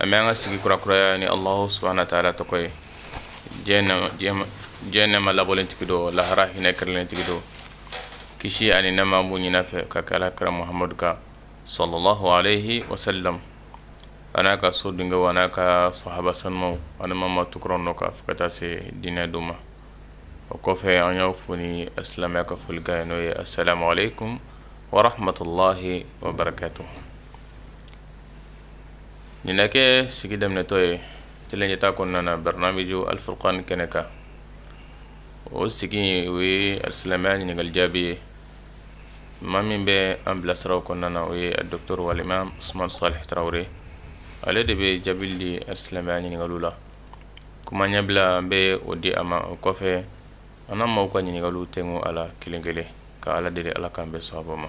an bɛ an ka sigi kurakuraya ni allahu subahana wa taala tɔgɔ ye diɲɛ nɛma labɔlen tigi don lahara hinɛ kɛrɛlen tigi don kisi ani nɛma b'o ɲini a fɛ ka kɛ ala kira muhamadu kan sallallahu alayhi wa sallam a n'a ka so denkɛw a n'a ka sahaba sanumaw ani maa maa tugura u nɔ kan fo ka taa se diinɛ don ma o kɔfɛ an y'aw fo ni silamɛya ka folikan ye n'o ye assalamu aleykum wa rahmatullahi wa barakatuhu nin na kɛ sigi daminɛtɔ ye tele ɲɛta kɔnɔna na barnamiju alifurkan kɛnɛ kan o sigi o ye silamɛya ɲininkali jaabi ye maa min bɛ an bilasira o kɔnɔna na o ye doctor wal imam usuman sali tarawele ale de bɛ jaabi di silamɛya ɲininkali la kuma ɲɛbila an bɛ o di a ma o kɔfɛ an na maaw ka ɲininkali tɛ a la kelenkelen ka ala deli ala k'an bɛn sawaba ma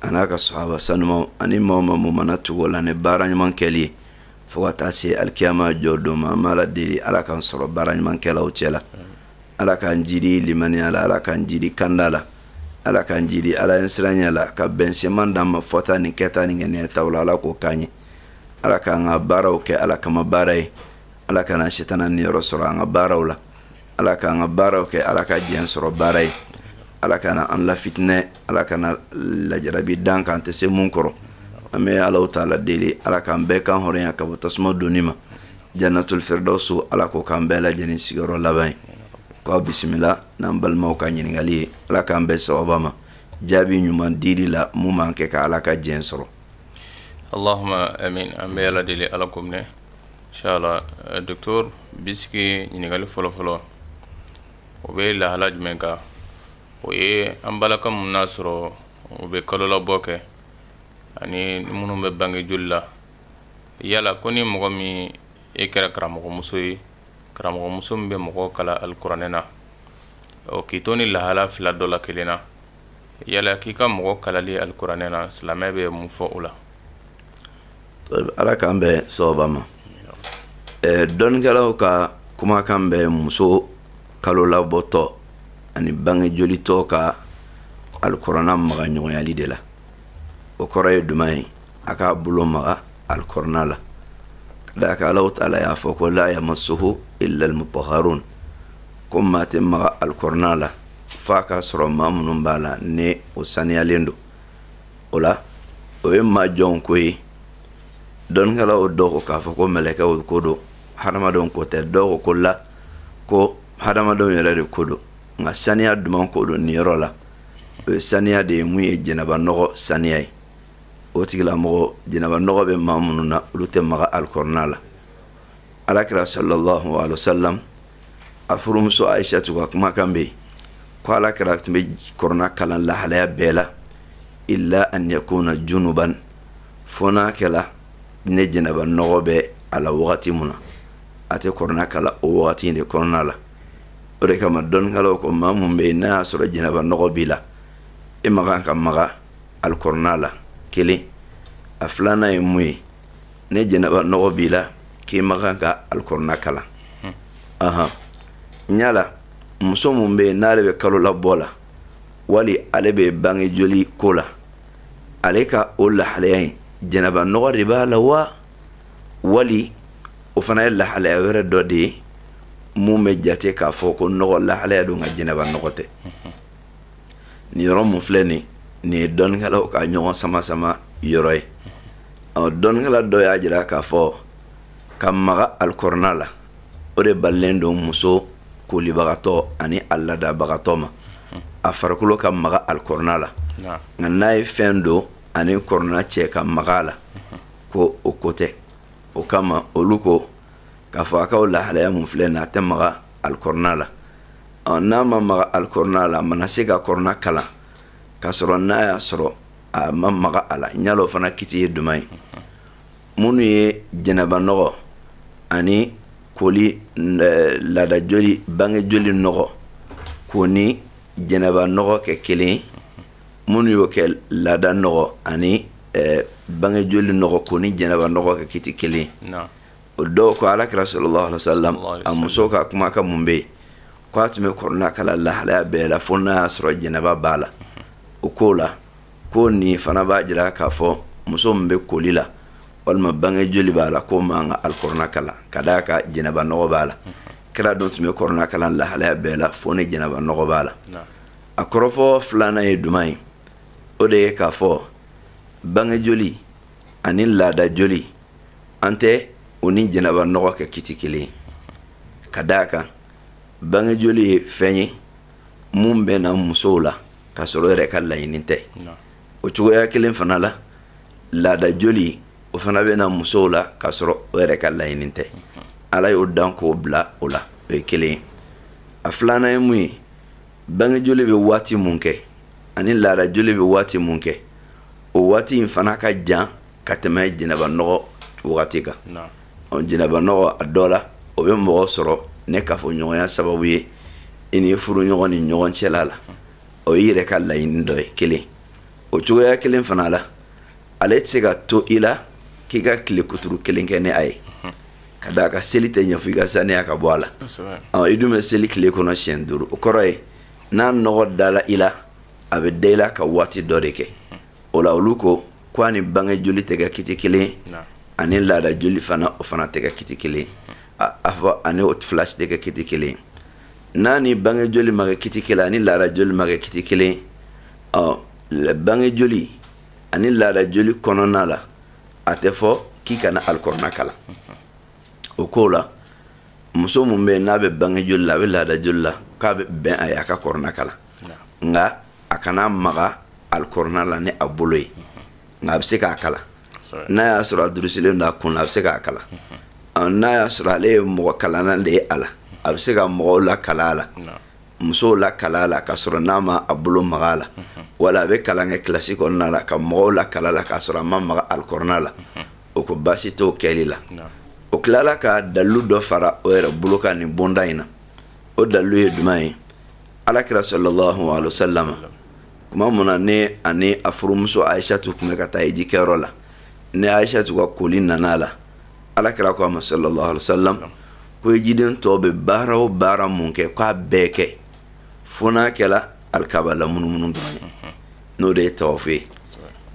a n'a ka sahaba sanumaw ani maa maa mun mana tugu u la ni baara ɲuman kɛli ye fo ka taa se alikiyama jɔ don ma an b'ala deli ala k'an sɔrɔ baara ɲumankɛlaw cɛ la ala k'an jiidi limaniya la ala k'an jiidi kanda la ala k'an jiidi ala ɲɛsiranya la ka bɛnsenman d'an ma fɔta ni kɛta ni ŋaniyataw la ala k'o k'an ye ala k'an ka baaraw kɛ ala kama baara ye ala kana setana niyɔrɔ sɔrɔ an ka baaraw la ala k'an ka baaraw kɛ ala ka diɲɛ sɔrɔ baara ye ala kana an lafitinɛ ala kana lajarabi d'an kan an tɛ se mun kɔrɔ an bɛ allahu taala deli ala k'an bɛɛ kan hɔrɔnya ka bɔ tasuma donni ma jannatul firdausu ala k'o k'an bɛɛ lajɛlen sigiyɔrɔ laban ye k'aw bisimila n'an balimaw ka ɲininkali ye ala k'an bɛn sawaba ma jaabi ɲuman dili la mun b'an kɛ ka ala ka diɲɛ sɔrɔ allahuma amin an bɛ ala deli ala k'o minɛ Doctor bisimila ɲininkali fɔlɔ fɔlɔ o bɛ lahala jumɛn kan o ye an balakaw minnu y'a sɔrɔ u bɛ kalolabɔ kɛ ani minnu bɛ bange joli la yala ko ni mɔgɔ min i kɛra karamɔgɔmuso ye karamɔgɔmuso min bɛ mɔgɔ kalan alikuranɛ na ɔ k'i to nin lahala fila dɔ la kelen na yala k'i ka mɔgɔ kalanni alikuranɛ na silamɛ bɛ mun fɔ o la ala k'an bɛn sawaba ma dɔnnikɛlaw ka kumakan bɛ muso kalolabɔtɔ ani bange jolitɔ ka alikurana maga ɲɔgɔnyali de la o kɔrɔ ye jumɛn ye a k'a bolo maga alikurana la ka d'a kan allahu taala y'a fɔ ko la yamasuhu illa almutahharun ko maa tɛ maga alikurana la fo a k'a sɔrɔ maa minnu b'a la ni o saniyalen don o la o ye maa jɔnw ko ye dɔnnikɛlaw dɔw ko k'a fɔ ko mɛlɛkɛw ko don hadamadenw ko tɛ dɔw ko ko la ko hadamadenw yɛrɛ de ko don nka saniya juman ko don nin yɔrɔ la o ye saniya de ye mun ye janaba nɔgɔ saniya ye o tigilamɔgɔ janaba nɔgɔ bɛ maa minnu na olu tɛ maga alikɔrɔna la ala kira sallallahu alaihi wasallam a furumuso aisatu ka kumakan bɛ yen ko ala kira tun bɛ kɔrɔna kalan lahalaya bɛɛ la illa an yakuna junuban fo n'a kɛla ni janaba nɔgɔ bɛ a la wagati min na a tɛ kɔrɔna kalan o wagati in de kɔnɔna la o de kama dɔnnikɛlaw ko maa mun bɛ yen n'a y'a sɔrɔ janaba nɔgɔ b'i la i ma kan ka maga alikɔrɔna la kelen a filanan ye mun ye ni janaba nɔgɔ b'i la k'i ma kan ka alikɔrɔna kalan ahan yala muso min bɛ yen n'ale bɛ kalolabɔ la wali ale bɛ bange joli ko la ale ka o lahalaya in janaba nɔgɔ de b'a la wa wali o fana ye lahalaya wɛrɛ dɔ de ye mun bɛ jate k'a fɔ ko nɔgɔ lahalaya don nka janaba nɔgɔ tɛ nin yɔrɔ mun filɛ nin nin ye dɔnnikɛlaw ka ɲɔgɔn sama sama yɔrɔ ye ɔ dɔnnikɛla dɔ y'a jira k'a fɔ ka maga alikɔrɔna la o de balilen don muso kolibagatɔ ani a laadabagatɔ ma a farikolo ka maga alikɔrɔna la nka n'a ye fɛn don a ni kɔrɔna cɛ ka maga a la ko o ko tɛ o kama olu ko k'a fɔ a ka o lahalaya mun filɛ nin a tɛ maga alikɔrɔna la ɔ n'a ma maga alikɔrɔna la a mana se ka kɔrɔna kalan k'a sɔrɔ n'a y'a sɔrɔ a ma maga a la ɲa o fana kiti ye juman ye minnu ye janaba nɔgɔ ani koli eh, laada joli bange joli nɔgɔ k'o ni janaba nɔgɔ kɛ kelen ye minnu y'o kɛ laada nɔgɔ ani eh, bange joli nɔgɔ k'o ni janaba nɔgɔ kɛ kiti kelen ye o dɔw ko ala kira sallallahu alaihi wasallam a muso ka kumakan mun bɛ yen ko a tun bɛ kɔrɔna kalan lahalaya bɛɛ la fo n'a y'a sɔrɔ janaba b'a la o k'o la ko nin fana b'a jira k'a fɔ muso min bɛ koli la walima bange joli b'a la k'o man kan ka alikɔrɔna kalan ka d'a kan janaba nɔgɔ b'a la kira dun tun bɛ kɔrɔna kalan lahalaya bɛɛ la fo ni janaba nɔgɔ b'a la a kɔrɔfɔ filanan ye juman ye o de ye k'a fɔ bange joli ani laada joli an tɛ o ni janaba nɔgɔ kɛ kiti kelen ye ka da a kan bange joli ye fɛn ye mun bɛ na musow la k'a sɔrɔ o yɛrɛ ka laɲini tɛ o cogoya kelen fana la laada joli o fana bɛ na musow la k'a sɔrɔ o yɛrɛ ka laɲini tɛ ala y'o dan k'o bila o la o ye kelen ye a filanan ye mun ye bangejoli bɛ waati mun kɛ ani laadajoli bɛ waati mun kɛ o waati in fana ka jan ka tɛmɛ janaba nɔgɔ wagati kan janaba nɔgɔ a dɔ la o bɛ mɔgɔ sɔrɔ ni kafoɲɔgɔnya sababu ye i ni i furuɲɔgɔn ni ɲɔgɔn cɛla la o ye i yɛrɛ ka laɲini dɔ ye kelen o cogoya kelen fana la ale tɛ se ka to i la k'i ka tile kuturu kelen kɛ ni a ye ka da a kan seli tɛ ɲɛ fo i ka saniya ka bɔ a la i dun bɛ seli tile kɔnɔ siɲɛ duuru o kɔrɔ ye n'a nɔgɔ dala i la a bɛ da i la ka waati dɔ de kɛ o la olu ko ko a ni bange joli tɛ kɛ kiti kelen ani laada joli fana o fana tɛ kɛ kiti kelen a fɔ ani o fila si tɛ kɛ kiti kelen n'a ni bange joli ma kɛ kiti kelen ani laada joli ma kɛ kiti kelen ɔ bange joli ani laada joli kɔnɔna la a tɛ fɔ k'i kana alikurana kalan o ko la muso mun bɛ n'a bɛ bange joli la a bɛ laada joli la k'a bɛ bɛn a ye a ka kurana kalan nka a kana maga alikurana la ni a bolo ye nka a bɛ se k'a kalan n'a y'a sɔrɔ a durusilen don a kun na a bɛ se k'a kalan n'a y'a sɔrɔ ale ye mɔgɔ kalanna de ye a la a bɛ se ka mɔgɔw lakalan a la musow lakalan a la k'a sɔrɔ a ma a bolo maga a la wala a bɛ kalan kɛ kilasi kɔnɔna la ka mɔgɔw lakalan a la k'a sɔrɔ a ma maga alikurana la olu ko baasi t'o kɛli la o tilala ka dalilu dɔ fara o yɛrɛ bolo kan nin bonda in na o dalilu ye jumɛn ye alakira salalahu alehi wasalama tuma mun na n'a ni a furumuso ayisatu tun bɛ ka taa eji kɛyɔrɔ la ni ayisatu ka koli nana a la alakira ko a ma salalahu alehi wasalam ko ejiden tɔw bɛ baara o baara mun kɛ k'a bɛɛ kɛ fo n'a kɛla alikaba lamunumunu dɔrɔn ye mhm. n'o de ye tawafu ye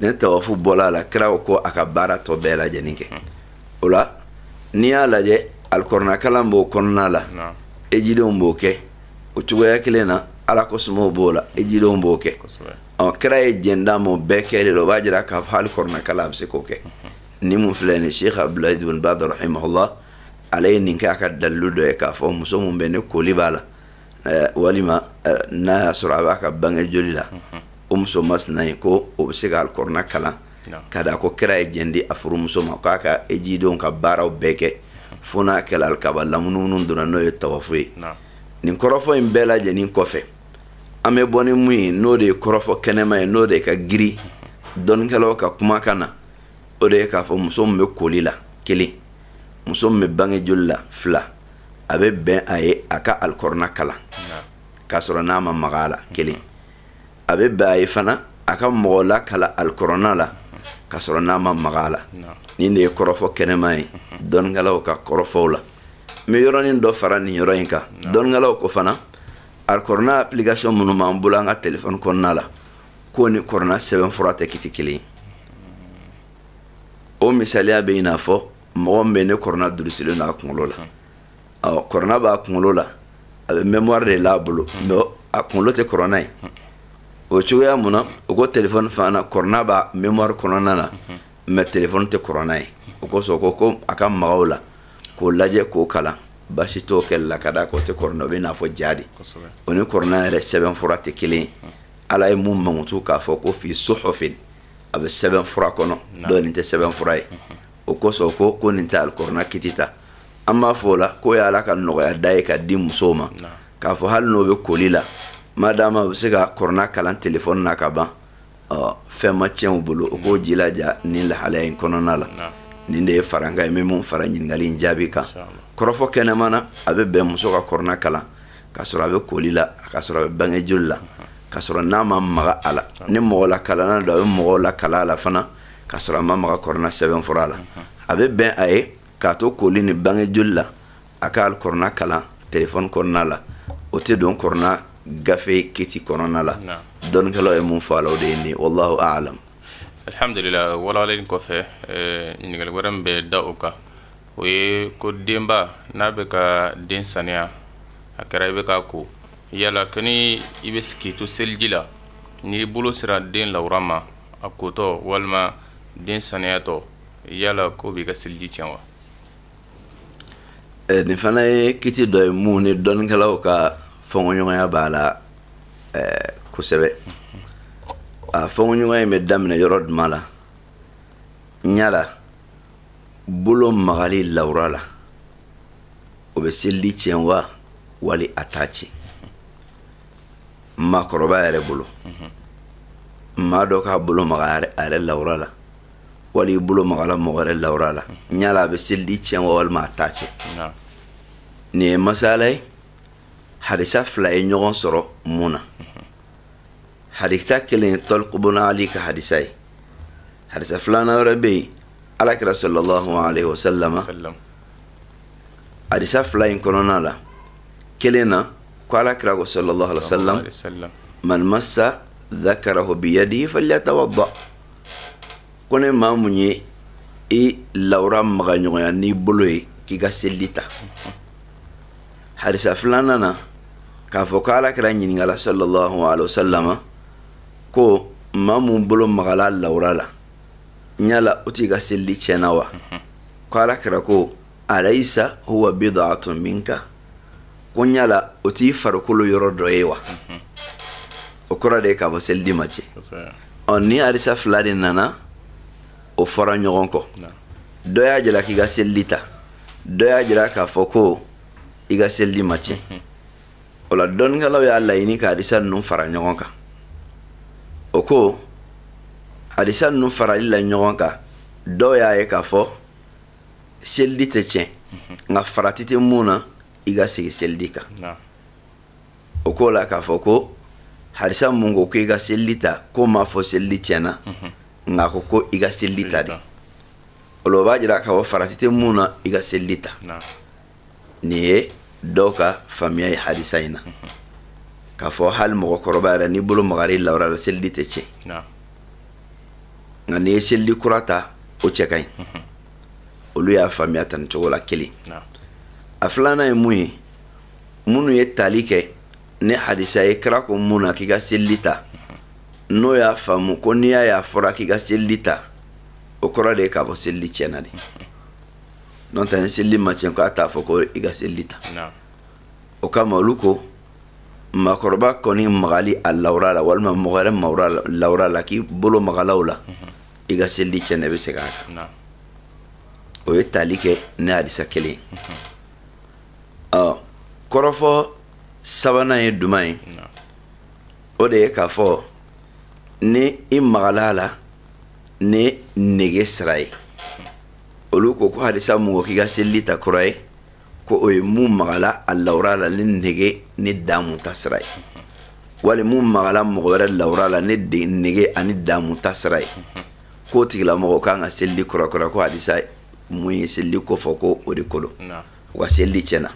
ni tawafu bɔla a la kira ko a ka baara tɔ bɛɛ lajɛlen kɛ mhm. o la n'i y'a lajɛ alikuranakalan b'o kɔnɔna la ejidenw b'o kɛ o cogoya kelen na ala kofɔ tɔw b'o la ejidenw b'o kɛ ɔ kira ye jɛn d'a m'o bɛɛ kɛli la o b'a jira k'a fɔ alikuranakalan a bɛ se k'o kɛ mhm. nin mun filɛ nin ye sheikh abdulayi ibn baz rahimahullah ale ye nin kɛ a ka dalilu dɔ ye k'a fɔ muso min bɛ ni koli b'a la walima n'a y'a sɔrɔ a b'a ka bange joli la o muso masina in ko o bɛ se ka kurana kalan ka da a kan ko kira ye jɛn di a furumuso ma k'a ka ejidenw ka baaraw bɛɛ kɛ fo n'a kɛra kaba lamunumunu dɔrɔn n'o ye tawafu ye nin kɔrɔfɔ in bɛɛ lajɛlen kɔfɛ an bɛ bɔ ni mun ye n'o de ye kɔrɔfɔ kɛnɛman ye n'o de ye ka girin dɔnnikɛlaw ka kumakan na o de ye k'a fɔ muso min bɛ koli la kelen muso min bɛ bange joli la fila a bɛ bɛn a ye a ka alikurana kalan k'a sɔrɔ n'a ma maga a la kelen a bɛ bɛn a ye fana a ka mɔgɔ lakalan alikurana la k'a sɔrɔ n'a ma maga a la nin de ye kɔrɔfɔ kɛnɛman ye dɔnnikɛlaw ka kɔrɔfɔw la n bɛ yɔrɔnin dɔ fara nin yɔrɔ in kan dɔnnikɛlaw ko fana alikurana application minnu b'an bolo an ka telefɔni kɔnɔna la k'o ni kurana sɛbɛnfura tɛ kiti kelen o misaliya bɛ i n'a fɔ mɔgɔ bɛ yen kurana durusilen a kunkolo la ɔ kurana b'a kunkolo la a bɛ mɛmwari de l'a bolo mɛ a kunkolo tɛ kurana ye o cogoya min na o ko telefɔni fana kurana b'a mɛmwari kɔnɔna na mɛ telefɔni tɛ kurana ye o kosɔn ko ko a ka maga o la k'o lajɛ k'o kalan basi t'o kɛ la ka da k'o tɛ kɔrɔ o bɛ i n'a fɔ ja de o ni kurana yɛrɛ sɛbɛnfura tɛ kelen ye ala ye min mankutu k'a fɔ ko fi suhufin a bɛ sɛbɛnfura kɔnɔ dɔ nin tɛ sɛbɛnfura ye o kosɔn ko ko nin tɛ alikurana kiti ta an b'a fɔ o la k'o ye ala ka nɔgɔya da ye k'a di musow ma k'a fɔ hali n'u bɛ koli la ma d'a ma u bɛ se ka kurana kalan telefɔni na ka ban fɛn ma tiɲɛ u bolo o k'o jilaja ni lahalaya in kɔnɔna la nin de ye farankan ye min fara ɲininkali in jaabi kan kɔrɔfɔ kɛnɛman na a bɛ bɛn muso ka kurana kalan ka sɔrɔ a bɛ koli la ka sɔrɔ a bɛ bange joli la ka sɔrɔ n'a ma maga a la ni mɔgɔ lakalan don a bɛ mɔgɔ lakalan a la fana ka sɔrɔ a ma maga kurana sɛbɛnfura la a bɛ bɛn a ye k'a to koli ni bange joli la a ka kurana kalan telefɔni kɔnɔna la o tɛ don kurana gafe kiti kɔnɔna la dɔnnikɛlaw ye min fɔ a la o de ye nin ye wallahu a'lam alhamdulillah walawalali kɔfɛ eh, ɲininkali wɛrɛ min bɛ da o kan o ye ko denba n'a bɛ ka den saniya a kɛra i bɛ k'a ko yala kɛ i bɛ se k'i to seliji la n'i bolo sera den lawura ma a kotɔ walima den saniyatɔ yala k'o b'i ka seliji tiɲɛ wa nin fana ye kiti dɔ ye min ni dɔnnikɛlaw ka fɔɲɔgɔnya b'a la kosɛbɛ a fɔɲɔgɔnya in bɛ daminɛ yɔrɔ jumɛn la n yala bolo magali lawura la o bɛ seliji tiɲɛ wa wali a t'a tiɲɛ maakɔrɔba yɛrɛ bolo maa dɔ k'a bolo maga a yɛrɛ lawura la wali i bolo magala mɔgɔ wɛrɛ lawura la yala a bɛ seliji tiɲɛ wa walima a t'a tiɲɛ nin ye masala ye hadisa fila ye ɲɔgɔn sɔrɔ min na hadisa kelen ye tɔliku buna ali ka hadisa ye hadisa filanan wɛrɛ bɛ yen alakira sallallahu alaihi wasallam hadisa fila in kɔnɔna la kelen na ko alakira ko sallallahu alaihi wasallam man massa dhakarahu biyadihi falyatawadda ko ni maa mun ye i lawura maga ɲɔgɔnya n'i bolo ye k'i ka selili ta hadisa filanan na k'a fɔ ko alakira ɲininkala sallallahu alaihi wasallam ko maa mun bolo magala a lawura la yala o tigi ka selili tiɲɛna wa mhm. ko ala kira ko alayisa huwa bidaatun minka ko yala o t'i farikolo yɔrɔ dɔ ye wa mhm. o kɔrɔ de ye k'a fɔ selidi ma tiɲɛ ɔ ni hadisa fila de nana o fɔra ɲɔgɔn kɔ dɔ y'a jira k'i ka selili ta dɔ y'a jira k'a fɔ ko i ka selili ma tiɲɛ mhm. o la dɔnnikɛlaw y'a laɲini ka hadisa ninnu fara ɲɔgɔn kan o ko hadisa ninnu farali la ɲɔgɔn kan dɔw y'a ye k'a fɔ selidi tɛ tiɲɛ mhm. nka farati tɛ mun na i ka segin selidi kan o ko la k'a fɔ ko hadisa mun ko ko i ka selidi ta k'o m'a fɔ selidi tiɲɛna mhm. nka k'o ko i ka selidi ta de o la o b'a jira k'a fɔ farati tɛ mun na i ka selidi ta nin ye dɔw ka faamuya ye hadisa in na k'a fɔ hali mɔgɔkɔrɔba yɛrɛ n'i bolo magara i lawura la selili tɛ tiɲɛ nka n'i ye selili kura ta o cɛ ka ɲi olu y'a faamuya tan nin cogo la kelen a filanan ye mun ye minnu ye tali kɛ ni hadisa ye kira ko mun na k'i ka selili ta n'o y'a faamu ko n'i y'a y'a fɔra k'i ka selili ta o kɔrɔ de ye k'a fɔ selili tiɲɛna de n'o tɛ ni selili ma tiɲɛ k'a t'a fɔ ko i ka selili ta o kama olu ko maakɔrɔba kɔni magali a lawura la walima mɔgɔ wɛrɛ lawura la k'i bolo magala u la mhm. i ka selili tiɲɛna i bɛ segin a kan o ye tali kɛ ni hadisa kelen mhm. ɔ kɔrɔfɔ sabanan ye jumɛn ye o de ye k'a fɔ ni i magala a la ni nege sira ye olu ko ko hadisa mun ko k'i ka selili ta kura ye ko o ye mun magala a lawura la ni nege ni damu ta sira ye wali mun magala mɔgɔ wɛrɛ lawura la ni nege ani damu ta sira ye k'o tigilamɔgɔ kan ka selili kurakura ko hadisa mun ye selili ko fɔ ko o de ko olu ka selili tiɲɛna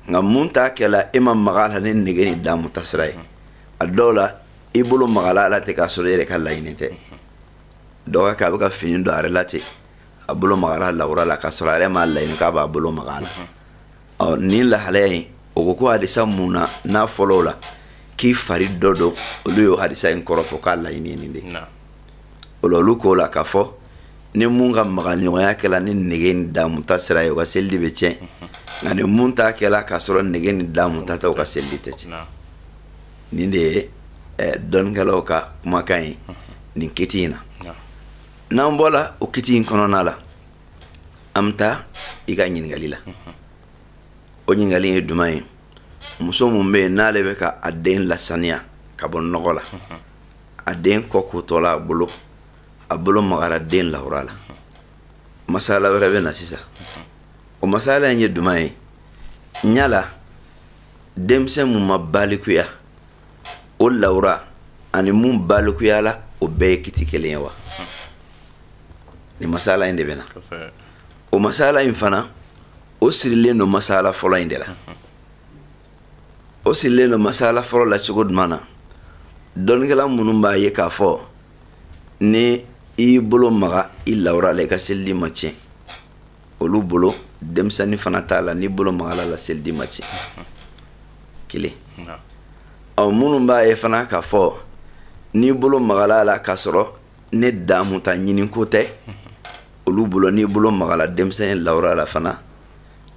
nka mun t'a kɛla e ma maga a la ni nege ni damu ta sira ye a dɔw la i bolo magala a la ten k'a sɔrɔ i yɛrɛ ka laɲini tɛ dɔ b'o kɛ a bɛ ka fini don a yɛrɛ la ten a bolo magala lawura la k'a sɔrɔ a yɛrɛ m'a laɲini k'a b'a bolo maga la ɔ ni lahalaya in o ko ko hadisa mun nana fɔlɔ la k'i fari dɔ don olu y'o hadisa in kɔrɔ fɔ k'a laɲini ye nin de o la olu k'o la k'a fɔ ni mun ka maga ɲɔgɔnya kɛla ni nege ni damu ta sira ye o ka seliji bɛ tiɲɛ nka ni mun ta kɛla k'a sɔrɔ nege ni damu ta tɛ o ka seliji tɛ tiɲɛ nin de ye eh, dɔnnikɛlaw ka kumakan ye nin kiti in na n'an bɔla o kiti in kɔnɔna la an bɛ taa i ka ɲininkali la o ɲininkali ye duman ye muso mun bɛ yen n'ale bɛ ka a den lasaniya ka bɔ nɔgɔ la a den kɔ kotɔla a bolo a bolo magara den lawura la masala wɛrɛ bɛ na sisan o masala in ye duman ye yala denmisɛn mun ma balikuya o lawura ani mun balikuyala o bɛɛ ye kiti kelen ye wa nin masala in de bɛna o masala in fana o sirilen don masala fɔlɔ in de la o sirilen don masala fɔlɔ la cogo duman na dɔnnikɛla minnu b'a ye k'a fɔ ni i y'i bolo maga i lawura la i ka seliji ma tiɲɛ olu bolo denmisɛnnin fana t'a la n'i bolo magala a la seliji ma tiɲɛ kelen ɔ minnu b'a ye fana k'a fɔ n'i bolo magala a la k'a sɔrɔ ni damu ta ɲini ko tɛ olu bolo n'i bolo magala denmisɛnnin lawura la fana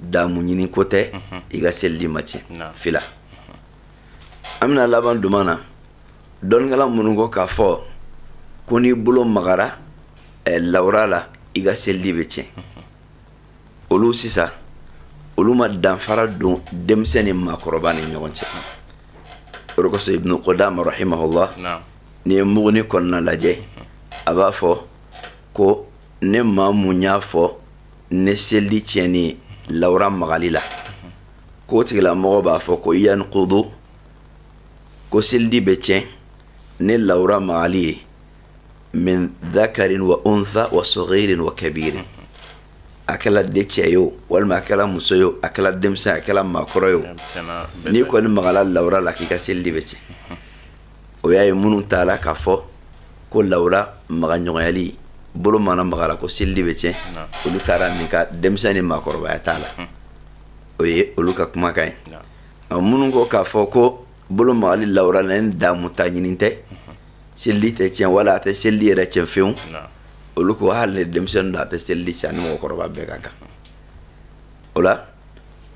damu ɲini ko tɛ i ka seliji ma tiɲɛ fila an bɛna laban duman na dɔnnikɛla minnu ko k'a fɔ ko n'i bolo magara eh, lawura la i ka seliji bɛ tiɲɛ olu sisan olu ma danfara don denmisɛn ni maakɔrɔba ni ɲɔgɔn cɛ o de kosɔn ibnu kodama rahimahullah n'i ye muguni kɔnɔna lajɛ a b'a fɔ ko ni maa mun y'a fɔ ni seliji tiɲɛni ye lawura magali la k'o tigilamɔgɔ b'a fɔ ko yankudu ko seliji bɛ tiɲɛ ni lawura magali ye min dakarin wa unsa wa sɔgirin wa kabirin a kɛla de cɛ ye o walima a kɛla muso ye o a kɛla denmisɛn a kɛla maakɔrɔ ye o n'i kɔni magala lawura la k'i ka seliji bɛ tiɲɛ o y'a ye minnu taala k'a fɔ ko lawura magaɲɔgɔnyali bolo mana magala ko seliji bɛ tiɲɛ olu taara min kan denmisɛn ni maakɔrɔbaya t'a la o ye olu ka kumakan ye minnu ko k'a fɔ ko bolo magali lawura na ni damu ta ɲini tɛ seliji tɛ tiɲɛ wala a tɛ seliji yɛrɛ tiɲɛ fewu olu ko hali denmisɛnnin don a tɛ seliji tiɲɛ ni mɔgɔkɔrɔba bɛɛ ka kan o la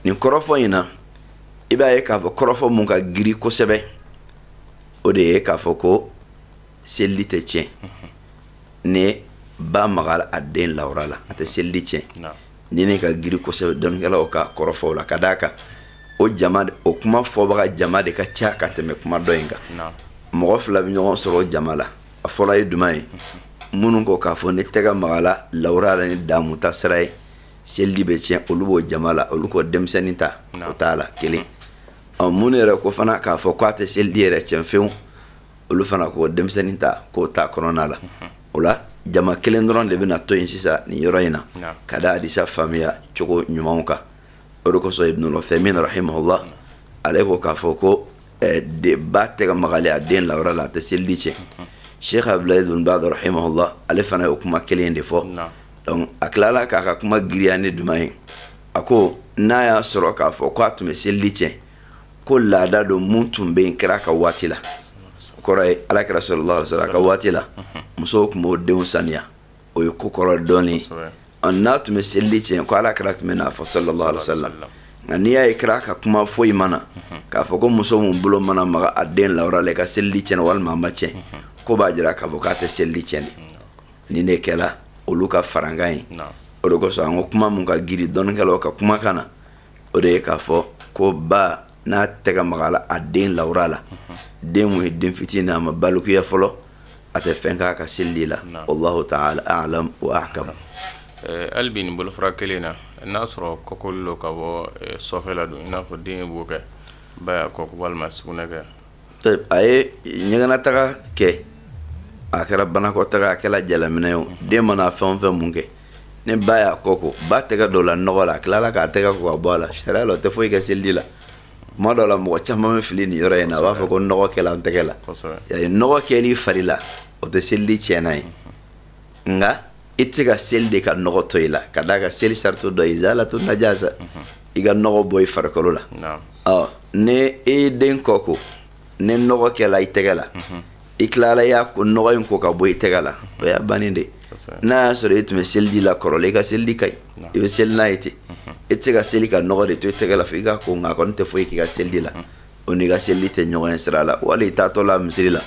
nin kɔrɔfɔ in na i b'a ye k'a fɔ kɔrɔfɔ mun ka giri kosɛbɛ o de ye k'a fɔ ko seliji tɛ tiɲɛ ni ba maga a den lawura la a tɛ seliji tiɲɛ nin de ka giri kosɛbɛ dɔnnikɛlaw ka kɔrɔfɔw la ka d'a kan o jama o kuma fɔbaga jama de ka ca ka tɛmɛ kuma dɔ in kan mɔgɔ fila bɛ ɲɔgɔn sɔrɔ o jama la a fɔlɔ ye jumɛn ye minnu ko k'a fɔ n'i tɛgɛ magala lawura la ni damu ta sira ye seliji bɛ tiɲɛ olu b'o jama la olu ko denmisɛnnin ta o t'a la kelen ɔ minnu yɛrɛ ko fana k'a fɔ k'a tɛ seliji yɛrɛ tiɲɛ fewu olu fana ko denmisɛnnin ta k'o t'a kɔnɔna la o la jama kelen dɔrɔn de bɛna to yen sisan nin yɔrɔ in na ka da hadisa faamuya cogo ɲuman kan o de kosɔn ibnul uthaymin rahimahullah ale ko k'a fɔ ko eh, ba tɛgɛ magali a den lawura la a tɛ seliji tiɲɛ sheikh abdul aziz ibn baz rahimahullah ale fana y'o kuma kelen de fɔ donc a tilala k'a ka kuma giriya ni jumɛn ye a ko n'a y'a sɔrɔ k'a fɔ ko a tun bɛ seliji tiɲɛ ko laada don mun tun bɛ yen kira ka waati la o kɔrɔ ye ala kira sallallahu alaihi wasallam ka waati la musow tun b'u denw saniya o ye ko kɔrɔ dɔɔni n'a tun bɛ seliji tiɲɛ ko ala kira tun bɛn'a fɔ sallallahu alaihi wasallam nka n'i y'a ye kira ka kuma foyi ma na k'a fɔ ko muso mun bolo mana maga a den lawura la i ka seliji tiɲɛna walima a ma tiɲɛ k'o b'a jira k'a fɔ k'a tɛ seliji tiɲɛ de nin de kɛla olu ka farankan ye o de kosɔn an ko kuma mun ka giri dɔnnikɛlaw ka kumakan na o de ye k'a fɔ ko ba n'a tɛgɛ magala a den lawura la den mun ye den fitinin a ma balikuya fɔlɔ a tɛ fɛn k'a ka seliji la wallahu taala alam wa ahkam eh, hali bi nin bolofara kelen na n'a sɔrɔ kɔkoli lo ka bɔ eh, sɔfɛ la don i n'a fɔ den ye bo kɛ ba y'a kɔ ko walima sugunɛ kɛ a ye ɲɛgɛnataga kɛ a kɛra banakɔtaga a kɛra jalaminɛ ye o den mana fɛn o fɛn mun kɛ ni ba y'a kɔ ko ba tɛgɛ donna nɔgɔ la a tilala k'a tɛgɛ ko ka bɔ a la sariya la o tɛ foyi kɛ seliji la tuma dɔw la mɔgɔ caman bɛ fili nin yɔrɔ in na a b'a fɔ ko nɔgɔ kɛla n tɛgɛ la nɔgɔ kɛli fari la o tɛ seliji tiɲɛnan ye nka i tɛ se ka seli de ka nɔgɔ to i la ka d'a kan seli sarati dɔ ye izalatu najasa mhm. i ka nɔgɔ bɔ i farikolo la ɔ ni e ye den kɔ ko ni nɔgɔ kɛla i tɛgɛ la mhm. i tilala y'a ko nɔgɔ in ko ka bɔ i tɛgɛ la mhm. o y'a bannen de n'a y'a sɔrɔ e tun bɛ seliji la kɔrɔlen i ka seliji ka ɲi i bɛ seli n'a ye ten e tɛ se ka seli ka nɔgɔ de to i tɛgɛ la fo i k'a ko nka a kɔni tɛ foyi k'i ka seliji la o n'i ka seliji tɛ ɲɔgɔn ye sira la wali i taatɔ la misiri la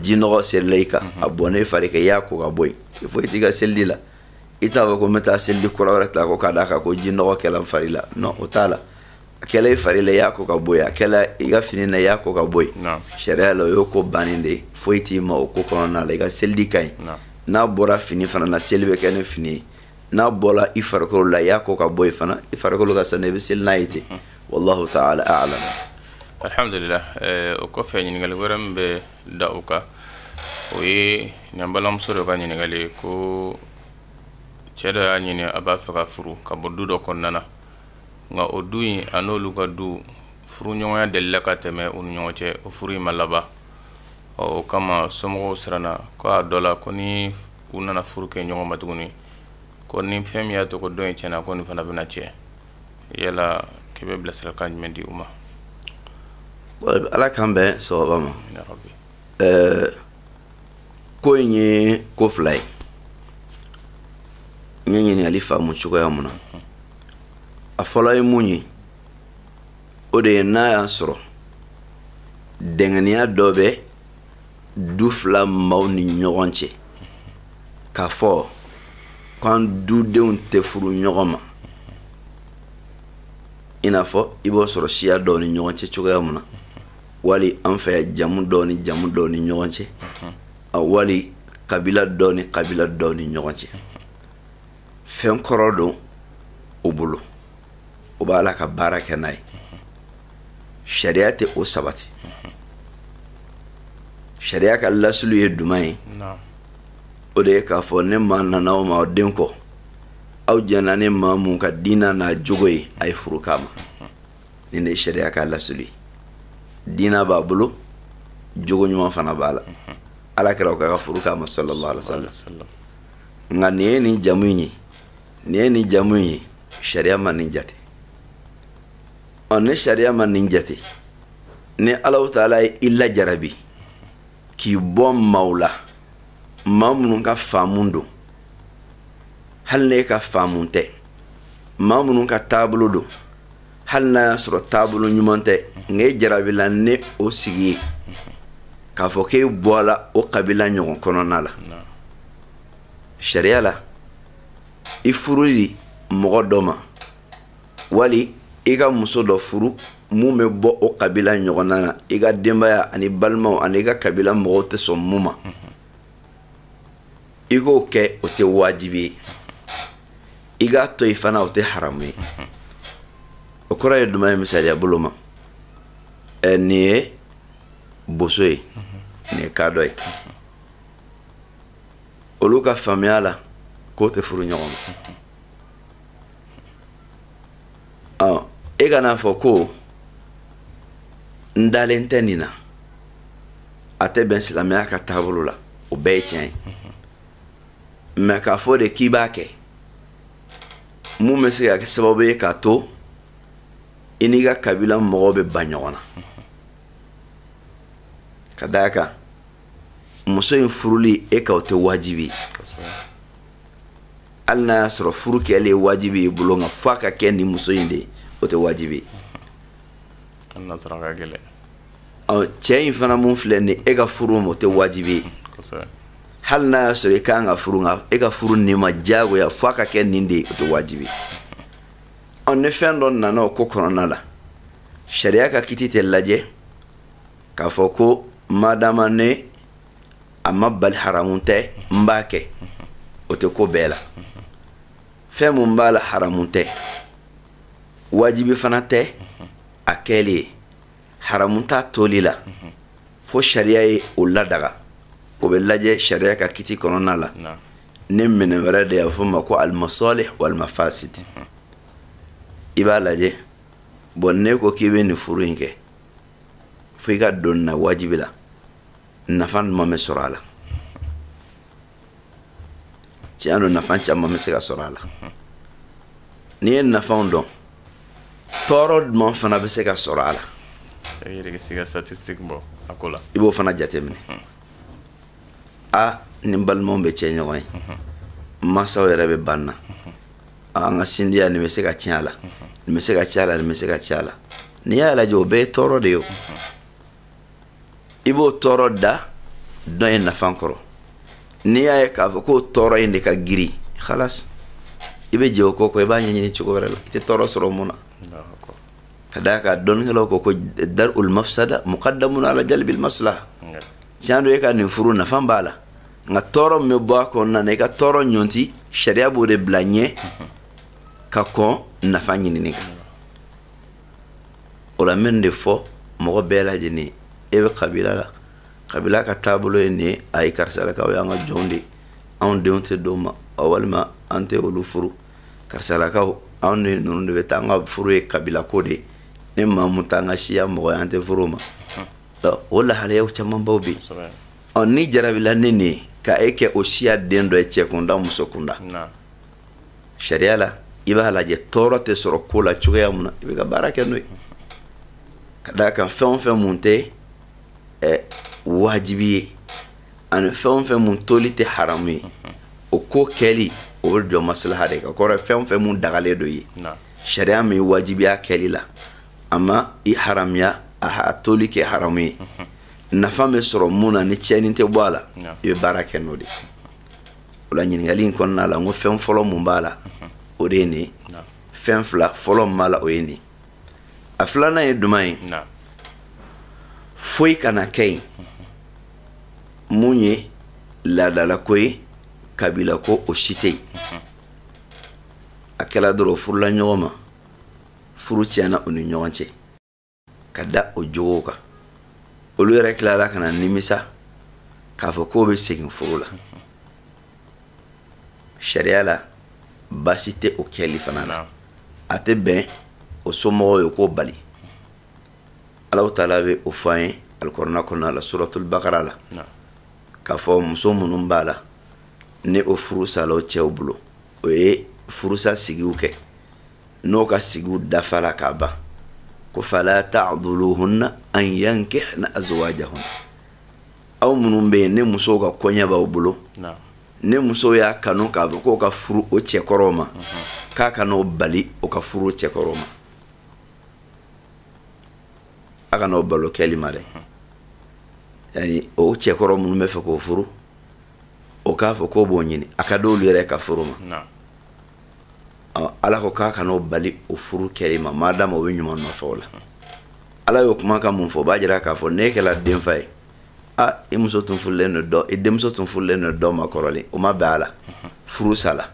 ji nɔgɔ serila i kan a bɔnna i fari kan i y'a ko ka bɔ yen foyi t'i ka seliji la i t'a fɔ ko n bɛ taa seliji kura wɛrɛ ta ko k'a d'a kan ko ji nɔgɔ kɛla n fari la non o t'a la a kɛla i fari la i y'a ko ka bɔ yen a kɛla i ka fini na i y'a ko ka bɔ yen sariya la o y'o ko bannen de ye foyi t'i ma o ko kɔnɔna la i ka seliji ka ɲi n'a bɔra fini fana na seli bɛ kɛ ni fini ye n'a bɔla i farikolo la i y'a ko ka bɔ yen fana i farikolo ka sanu i bɛ seli n'a ye ten mhm. wallahu ta'ala a'lam alhamdulillah eh, o kɔfɛ ɲininkali wɛrɛ min bɛ da o kan o ye ne balimamuso dɔ ka ɲininkali ye ko cɛ dɔ y'a ɲini a b'a fɛ ka furu ka bɔ du dɔ kɔnɔna na nka o du in a n'olu ka du furuɲɔgɔnya delila ka tɛmɛ u ni ɲɔgɔn cɛ o furu in ma laban ɔ o kama somɔgɔw siranna ko a dɔ la ko ni u nana furu kɛ ɲɔgɔn ma tuguni ko ni fɛn min y'a to ko dɔ in tiɲɛna ko nin fana bɛna tiɲɛ yala k'i bɛ bilasirakan jumɛn di u ma ala k'an bɛn sawaba ma ko in ye ko fila ye n ye ɲininkali faamu cogoya mun na a fɔlɔ ye mun ye o de ye n'a y'a sɔrɔ dɛngɛniya dɔ bɛ du fila maaw ni ɲɔgɔn cɛ k'a fɔ k'an dudenw tɛ furu ɲɔgɔn ma i n'a fɔ i b'o sɔrɔ siya dɔw ni ɲɔgɔn cɛ cogoya mun na wali an fɛ yan jamu dɔw ni jamu dɔw ni ɲɔgɔn cɛ wali kabila dɔw ni kabila dɔw ni ɲɔgɔn cɛ fɛn kɔrɔ don u bolo o b'a la ka baara kɛ n'a ye sariya tɛ o sabati sariya ka lasli ye jumɛn ye o de ye k'a fɔ ni maa nana aw ma den kɔ aw jɛnna ni maa min ka diinɛ n'a jogo ye a ye furu k'a ma nin de sariya ka lasli ye diinɛ b'a bolo jogo ɲuman fana b'a la ala kira ko ka furu k'a ma sallallahu alayhi wa sallam nka nin ye nin jamu in ye nin ye nin jamu ye sariya ma nin jate ɔ ni sariya ma nin jate ni alahu taala ye i lajarabi k'i bɔ maaw la maa minnu ka faamu don hali n'e ka faamu tɛ maa minnu ka taabolo don hali n'a y'a sɔrɔ taabolo ɲuman tɛ nka e jarabila ni o sigi ye k'a fɔ k'e bɔla o kabila ɲɔgɔn kɔnɔna la sariya la i furuli mɔgɔ dɔ ma wali i ka muso dɔ furu mun bɛ bɔ o kabila ɲɔgɔnna na i ka denbaya ani balimaw ani i ka kabila mɔgɔw tɛ sɔn mun ma i k'o kɛ o tɛ wajibi ye i k'a to yen fana o tɛ haramu ye o kɔrɔ ye jumɛn ye misaliya bolo ma ɛ nin ye boso ye nin ye kadɔ ye olu ka faamuya la k'o tɛ furu ɲɔgɔn ma ɔ e kan'a fɔ ko n dalen tɛ nin na a tɛ bɛn silamɛya ka taabolo la o bɛɛ ye tiɲɛ ye mɛ k'a fɔ de k'i b'a kɛ mun bɛ se ka kɛ sababu ye k'a to i n'i ka kabila mɔgɔw bɛ ban ɲɔgɔn na ka d'a kan muso in furuli e kan o tɛ wajibi hali n'a y'a sɔrɔ furu kɛli ye wajibi y'i bolo nka f'a ka kɛ nin muso in de ye o tɛ wajibi ye cɛ in fana mun filɛ nin e ka furu ma o tɛ wajibi ye hali n'a y'a sɔrɔ i kan ka furu nka e ka furu nin ma diyagoya f'a ka kɛ nin de ye o tɛ wajibi ye ni fɛn dɔ nana o ko kɔnɔna la sariya ka kiti tɛ lajɛ k'a fɔ ko madama ne a ma bali haramu tɛ n b'a kɛ o tɛ ko bɛɛ la fɛn mun b'a la haramu tɛ wajibi fana tɛ a kɛli ye haramu t'a toli la fo sariya ye o ladaga o bɛ lajɛ sariya ka kiti kɔnɔna la ni minɛn wɛrɛ de y'a fɔ ma ko al masalih wal mafasid i b'a lajɛ bɔn ne ko k'i bɛ nin furu in kɛ fo i ka don na wajibi la nafa jumɛn bɛ sɔrɔ a la tiɲɛ don nafa caman bɛ se ka sɔrɔ a la n'i ye nafaw dɔn tɔɔrɔ jumɛn fana bɛ se ka sɔrɔ a la i b'o fana jateminɛ a ni balimaw bɛ cɛ ɲɔgɔn ye mansaw yɛrɛ bɛ ban na an ka sinjiya nin bɛ se ka tiɲɛ a la nin bɛ se ka tiɲɛ a la nin bɛ se ka tiɲɛ a la n'i y'a lajɛ o bɛɛ ye tɔɔrɔ de ye o i b'o tɔɔrɔ da dɔn ye nafa kɔrɔ n'i y'a ye k'a fɔ k'o tɔɔrɔ in de ka girin halas i bɛ jɛ o ko kɔ i b'a ɲɛɲini cogo wɛrɛ la i tɛ tɔɔrɔ sɔrɔ mun na ka d'a kan dɔnnikɛlaw ko ko dar ul mafsada muqaddamun ala jalbil maslaha tiɲɛ don e ka nin furu nafa b'a la nka tɔɔrɔ min bɛ bɔ a kɔnɔna na i ka tɔɔrɔ ɲɔnti sariya b'o de bila ɲɛ ka kɔn nafa ɲinini kan o la n bɛ nin de fɔ mɔgɔ bɛɛ lajɛlen e bɛ kabila la kabila ka taabolo ye nin ye a ye karisalakaw y'an ka jɔnw de anw denw tɛ d'o ma walima an tɛ olu furu karisalakaw anw de ninnu de bɛ taa an ka furu ye kabila ko de ye ni maa mun t'an ka siya mɔgɔ an tɛ furu ma o lahalayaw camanbaw bɛ yen ɔ ni jarabila ne nin ye ka e kɛ o siya den dɔ ye cɛ kunda muso kunda sariya la i b'a lajɛ tɔɔrɔ tɛ sɔrɔ ko la cogoya mun na i bɛ ka baara kɛ n'o ye ka d'a kan fɛn o fɛn mun tɛ ɛ wajibi ye ani fɛn o fɛn mun toli tɛ haramu ye o ko kɛli o bɛ jɔ maslaha de kan kɔrɔ fɛn o fɛn mun dagalen don i ye sariya m'i wajibiya kɛli la a ma i haramuya a toli kɛ haramu ye nafa bɛ sɔrɔ mun na ni tiɲɛni tɛ bɔ a la i bɛ baara kɛ n'o de ye o la ɲininkali in kɔnɔna la n ko fɛn fɔlɔ mun b'a la o de ye nin fɛn fila fɔlɔ min b'a la o ye nin a filanan ye jumɛn ye foyi kana kɛ yen mun ye laadalako ye kabila ko o si tɛ yen a kɛla dɔrɔn furula ɲɔgɔn ma furu tiɲɛna u ni ɲɔgɔn cɛ ka da o jogow kan olu yɛrɛ tilala ka na nimisa k'a fɔ k'o bɛ segin furu la sariya la baasi tɛ o kɛli fana na a tɛ bɛn o somɔgɔw ye k'o bali alahu taala bɛ o fɔ an ye alikɔrɔna kɔnɔna la suratul bakara la k'a fɔ muso minnu b'a la ni o furu sala o cɛw bolo o ye furusa sigiw kɛ n'o ka sigiw dafala ka ban ko fala ta'dhuluhunna an yankihna azwajahun aw minnu bɛ yen ni musow ka koɲɛ b'aw bolo ni muso y'a kanu k'a fɔ k'o ka furu o cɛkɔrɔw ma k'a kana o bali o ka furu o cɛkɔrɔw ma a kana o bali o kɛli ma dɛ yani o cɛkɔrɔ minnu b'a fɛ k'o furu o k'a fɔ k'o b'o ɲini a ka d'olu yɛrɛ ka furu ma ala ko k'a kana o bali o furu kɛli ma madama o bɛ ɲuman nɔfɛ o la ala y'o kumakan mun fɔ o b'a jira k'a fɔ n'e kɛra denfa ye aa i muso tun furulen don i denmuso tun furulen don dɔ ma kɔrɔlen o ma bɛn a la furu sala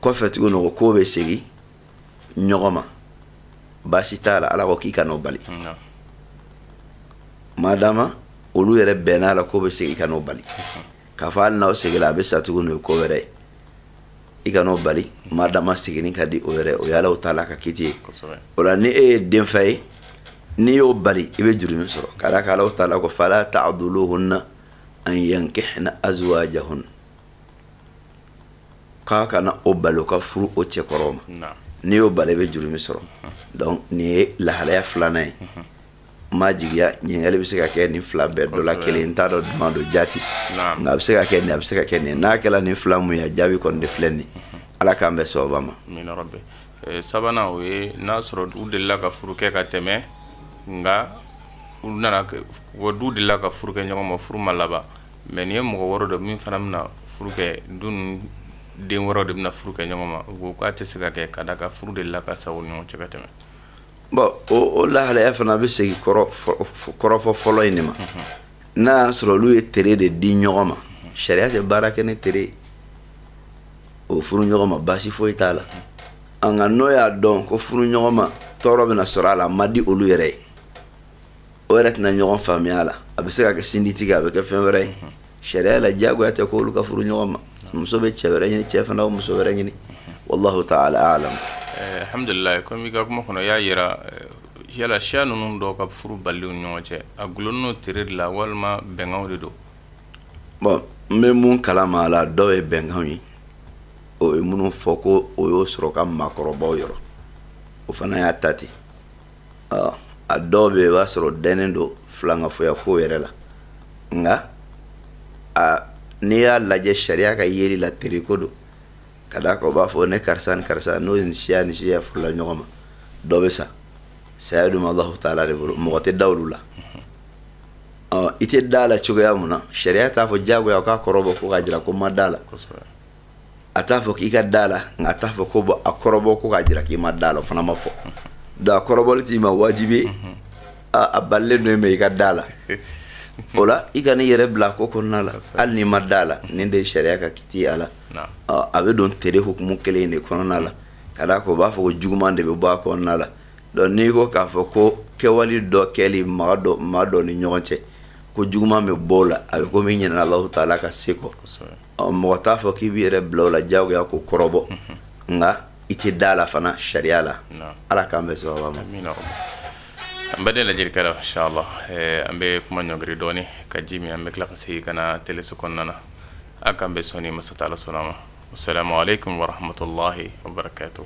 kɔfɛ tuguni n'o ko k'o bɛ segin ɲɔgɔn ma baasi t'a la ala ko k'i kan'o bali madama olu yɛrɛ bɛnn'a la k'o bɛ segin i kan'o bali k'a fɔ hali n'aw seginna a bɛ sa tugun o ye ko wɛrɛ ye i kan'o bali maa dama seginni ka di o yɛrɛ o y'Alahu taala ka kiti ye o la ni e ye denfa ye n'i y'o bali i bɛ jurumi sɔrɔ ka d'a kan Alahu taala ko fala ta'duluhunna an yankihna azwajahunna k'aw kana o bali o ka furu o cɛkɔrɔw ma n'i y'o bali i bɛ jurumi sɔrɔ donc nin ye lahalaya filanan ye ma jigiya ɲininkali bɛ se ka kɛ nin fila bɛɛ dɔ la kelen n t'a dɔn jumɛn don jaati nka a bɛ se ka kɛ nin a bɛ se ka kɛ nin n'a kɛra nin fila mun ye jaabi kɔni de filɛ nin ala k'an bɛn sawaba ma eh, sabanan o ye n'a sɔrɔ u delila ka furu kɛ ka tɛmɛ nka u nana wa du delila ka furu kɛ ɲɔgɔn ma furu ma laban mɛ nin ye mɔgɔ wɛrɛ dɔ min fana bɛna furu kɛ duden wɛrɛw de bɛna furu kɛ ɲɔgɔn ma u ko k'a tɛ se ka kɛ ka d'a kan furu delila ka sa o ɲɔgɔn cɛ ka tɛmɛ bɔn o lahalaya fana bɛ segin kɔrɔfɔ fɔlɔ in de ma n'a y'a sɔrɔ olu ye tere de di ɲɔgɔn ma sariya tɛ baara kɛ ni tere o furu ɲɔgɔn ma baasi foyi t'a la nka n'o y'a dɔn ko furu ɲɔgɔn ma tɔɔrɔ bɛna sɔrɔ a la man di olu yɛrɛ ye o yɛrɛ tɛna ɲɔgɔn faamuya a la a bɛ se ka kɛ sinji tigɛ a bɛ kɛ fɛn wɛrɛ ye sariya la diyagoya tɛ ko olu ka furu ɲɔgɔn ma muso bɛ cɛ wɛrɛ ɲini cɛ fana muso wɛrɛ ɲini wallahu ta'ala a'lam eh, alhamdulillah comme ka kuma kɔnɔ y'a yira eh, yala siya ninnu dɔw ka furu baliw ɲɔgɔn cɛ a dulonnen tere de la walima bɛnkanw de don bon n bɛ mun kalama a la dɔw ye bɛnkanw ye o ye minnu fɔ ko o y'o sɔrɔ ka maakɔrɔbaw yɔrɔ o fana y'a ta ten a dɔw bɛ i b'a sɔrɔ dɛnnen don filankafoya ko yɛrɛ la nka a n'i y'a lajɛ sariya ka yeli la teriko don ka d'a kan u b'a fɔ ni karisa ni karisa n'o ye nin siya ni siya furula ɲɔgɔn ma dɔ bɛ sa saya dun Alahu taala de bolo mɔgɔ tɛ da olu la i tɛ da a la cogoya mun na sariya t'a fɔ diyagoya k'a kɔrɔbɔ ko k'a jira ko n ma da a la a t'a fɔ k'i ka da la nka a t'a fɔ ko bɔn a kɔrɔbɔ ko k'a jira k'i ma da la o fana ma fɔ donc a kɔrɔbɔli t'i ma wajibi a balilen don mɛ i ka da la o la i kan'i yɛrɛ bila a ko kɔnɔna la hali n'i ma da la nin de ye sariya ka kiti a la a bɛ don tere hukumu kelen de kɔnɔna la ka d'a kan o b'a fɔ ko juguman de bɛ bɔ a kɔnɔna la donc n'i ko k'a fɔ ko kɛwali dɔ kɛli maa dɔ maa dɔ ni ɲɔgɔn cɛ ko juguman bɛ bɔ o la a bɛ komi i ɲinɛna Alahu taala ka se kɔ mɔgɔ t'a fɔ k'i b'i yɛrɛ bila o la diyagoya k'o kɔrɔbɔ nka i tɛ da la fana sariya la ala k'an bɛn sawaba ma an bɛɛ de lajɛli kɛra inshallah an bɛ kuma ɲɔngiri dɔɔni ka ji min an bɛ tila ka segin ka na teleso kɔnɔna na a k'an bɛ sɔn ni masa taala sɔnna ma assalamu alaikum warahmatullahi wabarakatuh